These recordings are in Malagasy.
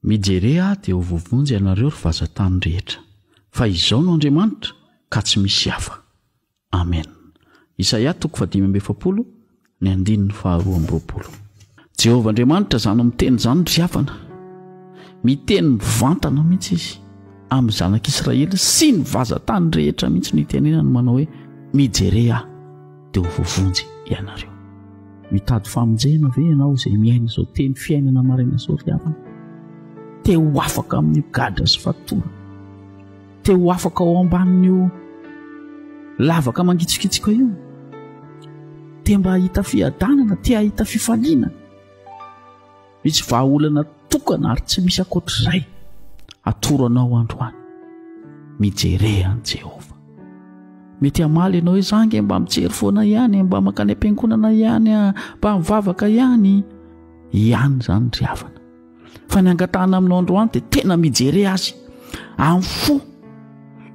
Mijere aho dia ho vovonjy ianareo ry vazatany rehetra, fa Izaho no Andriamanitra ka tsy misy hafa. Amen. Isaia toko fahadimy amby efapolo, ny andininy faharoa amby roapolo. Jehovah Andriamanitra izany miteny izany ry havana. Miteny mivantana mihitsy izy amin'ny zanak'Israely sy ny vazan-tany rehetra mihitsy no itenenany manao hoe mijerey ahy dia ho voavonjy ianareo. Mitady famonjena ve ianao izay miaina izao teny fiainana maraina izao ry havana? Te ho afaka amin'io gadra sy fatorana. te ho afaka ao ambanin'io lavaka mangitsokitsoka io te mba hahita fiadanana te hahita fifaliana misy vahaolana tokana ary tsy misy ankoatr'izay atoro anao androany mijere any jehovah mety hamaly ianao hoe zange mba mijery foana ihany mba makany am-piangonana ihany mba mivavaka ihany ihany izany ry havana fa ny angatahana aminao androany dia tena mijere azy amin'ny fo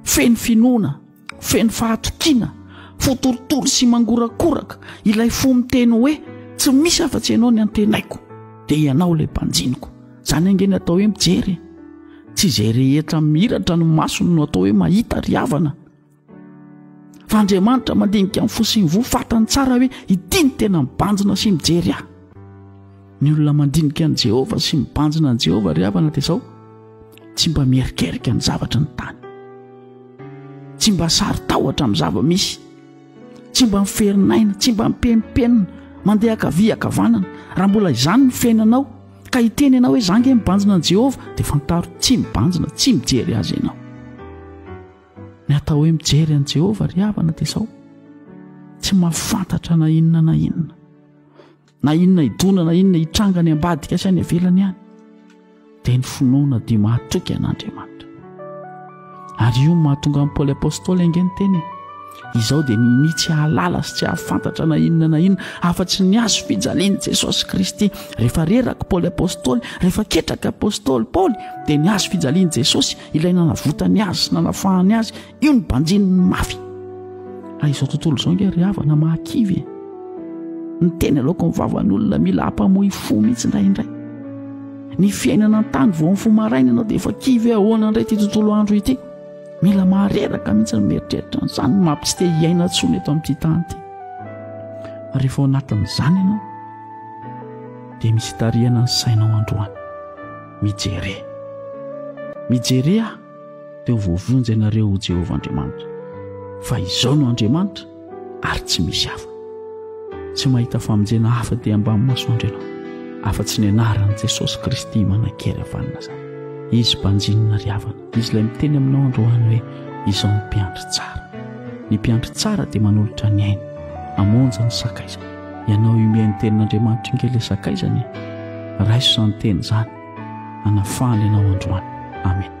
feno finoana feno fahatokiana fo torotoro sy mangorakoraka ilay fo miteny hoe tsy misy afa-tsy ianao ny antenaiko dia ianao ilay mpanjiniko izany ange ny atao hoe mijery tsy izay rehetra miratra ny masony no atao hoe mahita ry havana fa andriamanitra mandinika ny fo sy ny voa fatany tsara hoe ity ny tena mibanjina sy mijery ahy ny olona mandinika an'i jehovah sy mibanjina an'i jehovah ry havana dia izao tsy mba mierikerika ny zavatra ny tany tsy mba sary tahotra amin'ny zava-misy tsy mba miferinaina tsy mba mipempenina mandeha akavia akavanana raha mbola izany ny fiainanao ka hiteny ianao hoe za nge mibanjina an'i jehovah dia fantaro tsy mibanjina tsy mijery azy ianao Ny atao hoe mijery an'i Jehovah ry havana dia izao, tsy mahafantatra na inona na inona, na inona hidona na inona hitranga any ambadika sy any ivelany any, dia ny finoana dia mahatoky an'Andriamanitra. Ary io mahatonga an'i Paoly Apôstôly ange ny teny izao dia nini tsy hahalala sy tsy hahafantatra na inona na inona afa-tsy ny azo fijalian'i Jesosy Kristy. Rehefa reraka Paoly Apôstôly, rehefa ketraka Apôstôly Paoly, dia ny azo fijalian'i Jesosy Ilay nanavotany azy sy nanafahany azy, io ny banjininy mafy. Raha izao tontolo izao ingahy ry havana mahakivy e. Ny teny aloka ny vavan'olona mila hampamoy fo mihitsy indraindray. Ny fiainana an-tany vao ny fo maraina ianao dia efa kivy hoe ahoana indray ity tontolo andro ity. Mila mahareraka mihitsy ny mieritreritra an'izany maha tsy te hiaina intsony eto amin'ity tany ity. Rehefa ao anatin'izany ianao dia misy itarihana ny sainao androany. Mijere. Mijere aho, dia ho voavonjy ianareo, ho Jehovah Andriamanitra. Fa izao no Andriamanitra, ary tsy misy hafa. Tsy mahita famonjena hafa dia ambamin'ny masoandro ianao, afa-tsy ny anaran'i Jesosy Kristy manankery avy any Nazareta. Izy mpanjinina ry havana. Izy ilay miteny aminao androany hoe izao ny mpiandry tsara. Ny mpiandry tsara dia manolotra ny ainy, amonjy ny sakaizany. Ianao iomea ny tenin'Andriamanitra inge ilay sakaizany e. Raiso izany teny izany, hanafahany anao androany. Amen.